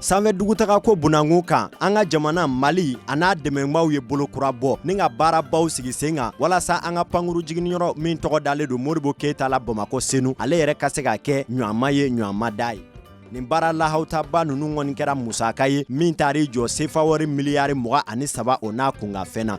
sanfɛ dugutagako bunangun kan an ka jamana mali a n'a dɛmɛnbaw ye bolo kura bɔ ni ka baarabaw sigi sen kan walasa an ka pankuru jiginniyɔrɔ min tɔgɔ dalen don modibo keyita la bamakɔ senu ale yɛrɛ ka se ka kɛ ɲɔama ye ɲɔama da ye nin baara lahautaba nunu kɔni kɛra musaka ye min taar'i jɔ sefawari miliyari mugan ani saba o n'a kunkanfɛn na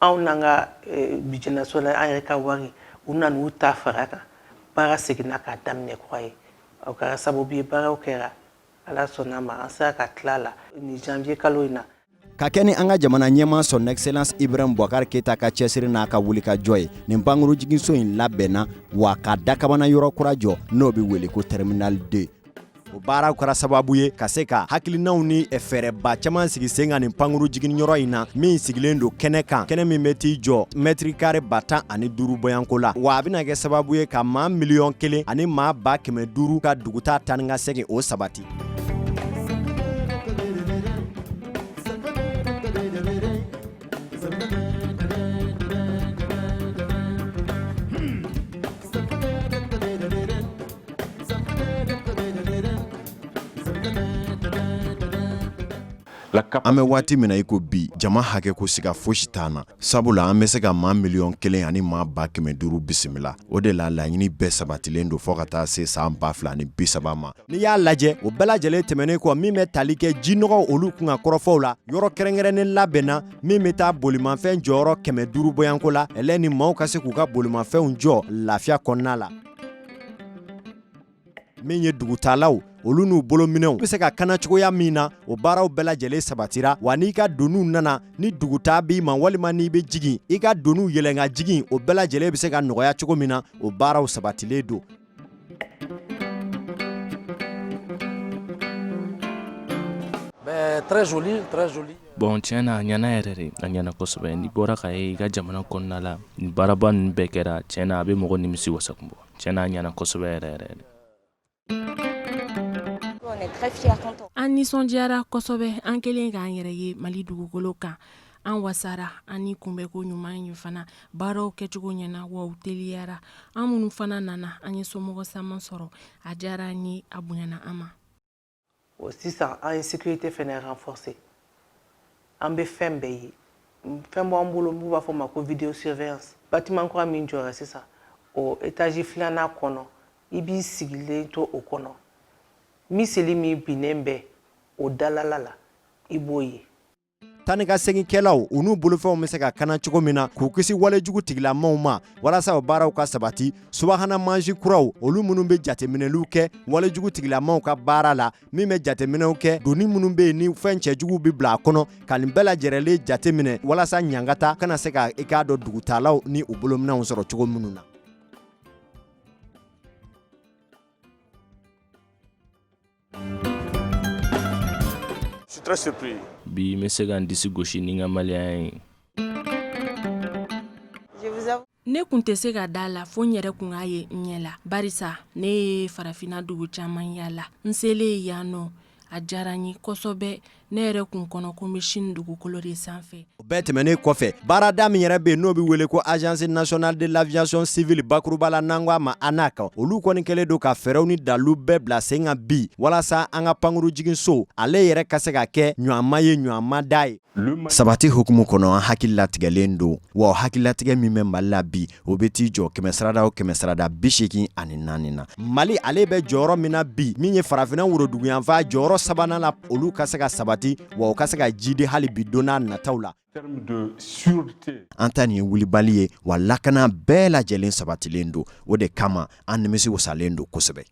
anw n'an ka budget national an yɛrɛ ka wari u nana u ta fara kan baara seginna k'a daminɛ kura ye o kɛra sababu ye baaraw kɛra ala sɔnna ma an sera ka tila la nin janvier kalo in na ka kɛ ni an ka jamana ɲɛmaa son excellence ibrahim boubacar keyita ka cɛsiri n'a ka wulikajɔ ye nin pankuru jiginso in labɛnna wa ka dakabana yɔrɔ kura jɔ n'o bɛ wele ko terminal 2 o baaraw kɛra sababu ye ka se ka hakilinaw ni fɛɛrɛba caman sigi sen kan nin pankuru jiginyɔrɔ in na min sigilen don kɛnɛ kan kɛnɛ min bɛ t'i jɔ mɛtiri kare ba tan ani duuru bɔyanko la wa a bɛna kɛ sababu ye ka maa miliyɔn kelen ani maa ba kɛmɛ duuru ka dugutaa taa ni ka segin o sabati An bɛ waati min na i ko bi jama hakɛ ko siga fosi t'an na sabula an bɛ se ka maa miliyɔn kelen ani maa ba kɛmɛ duuru bisimila o de la laɲini bɛɛ sabatilen don fɔ ka taa se san ba fila ni bi saba ma n'i y'a lajɛ o bɛɛ lajɛlen tɛmɛnen kɔ min bɛ tali kɛ jinɔgɔw olu kunkan kɔrɔfɔw la yɔrɔ kɛrɛnkɛrɛnnen labɛnna min bɛ taa bolimafɛn jɔyɔrɔ kɛmɛ duuru bɔyanko la ɛlɛ ni maaw ka se k'u ka bolimafɛnw jɔ lafiya kɔnɔna la min ye dugutaalaw olu n'u bolominɛw bɛ se ka kana cogoya min na o baaraw bɛɛ lajɛlen sabatira wa n'i ka doniw nana ni dugutaa b'i ma walima n'i bɛ jigin i ka doniw yɛlɛn ka jigin o bɛɛ lajɛlen bɛ se ka nɔgɔya cogo min na o baaraw sabatilen don Euh, bon tiɲɛ na a ɲana yɛrɛ de a ɲana kosɛbɛ n'i bɔra ka ye i ka jamana kɔnɔna la ni baaraba ninnu bɛɛ kɛra tiɲɛ na a bɛ mɔgɔ nimisiwasa kun bɔ tiɲɛ na a ɲana kosɛbɛ yɛrɛ yɛrɛ an nisɔndiyara kosɛbɛ an kɛlen k'an yɛrɛ ye mali dugukolo kan an wasara an kunbɛn ko ɲuman in fana baaraw kɛcogo ɲɛna wa u teliyara an minnu fana nana an ye somɔgɔ sama sɔrɔ a diyara an ye a bonyana an ma o sisan an ye sécurité fana renforcer an bɛ fɛn bɛɛ ye fɛn b'an bolo n'u b'a fɔ ma ko vidéo surveillance bâtiment kura min jɔra sisan o étage filanan kɔnɔ i b'i sigilen to o kɔnɔ miseli min binnen bɛ o dalala la i b'o ye taa ni ka seginkɛlaw u n'u bolofɛnw bɛ se ka kana cogo min na k'u kisi walejugu tigilamaw ma walasa o baaraw ka sabati subahana mansin kuraw olu minnu bɛ jateminɛliw kɛ walejugu tigilamaw ka baara la min bɛ jateminɛw kɛ doni minnu bɛ yen ni fɛn cɛjuguw bɛ bila a kɔnɔ ka nin bɛɛ lajɛrɛlen jateminɛ walasa ɲangata kana se ka i k'a dɔn dugutaalaw ni u bolominɛnw sɔrɔ cogo minnu na Bi n bɛ se ka n disi gosi ni n ka maliya ye ne kun tɛ se ka da a la fo n yɛrɛ kun k'a ye n ɲɛ la barisa ne ye farafinna dugu caman yaala n selen ye yan nɔ a diyara n ye kosɛbɛ ne yɛrɛ kun kɔnɔ ko n bɛ Sini dugukolo de sanfɛ o bɛɛ tɛmɛnen kɔfɛ baarada min yɛrɛ bɛ yen n'o bɛ wele ko agence nationale de l'aviation civile bakuruba la n'an ko a ma ANAC olu kɔni kɛlen don ka fɛɛrɛw ni dalilu bɛɛ bila sen kan bi walasa an ka pankurun jiginso ale yɛrɛ ka se ka kɛ ɲɔgɔn ma ye ɲɔgɔn ma da ye sabati hukumu kɔnɔ an hakililatigɛlen don wa hakililatigɛ min bɛ mali la bi o bɛ t'i jɔ kɛmɛ sarada o kɛmɛ sarada bi seegin ani naani na mali ale bɛ jɔyɔrɔ min na bi min ye farafinna woroduguyanfan jɔyɔrɔ sabanan na olu ka se ka sabati wa u ka se ka jidi hali bi don n'a nataw la an ta nin ye wulibali ye wa lakana bɛɛ lajɛlen sabatilen don o de kama an nimisi wasalen don kosɛbɛ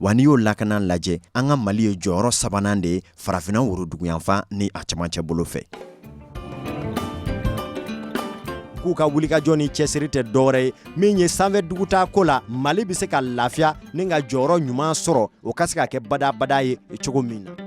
wa n'i y'o lakana lajɛ an ka mali ye jɔyɔrɔ sabanan de ye farafinna woroduguyanfan ni a camancɛ bolo fɛ k'u ka wulikajɔ ni cɛsiri tɛ dɔwɛrɛ ye min ye sanfɛ dugutaa ko la mali bɛ se ka lafiya ni ka jɔyɔrɔ ɲuman sɔrɔ o ka se ka kɛ badabada ye cogo min na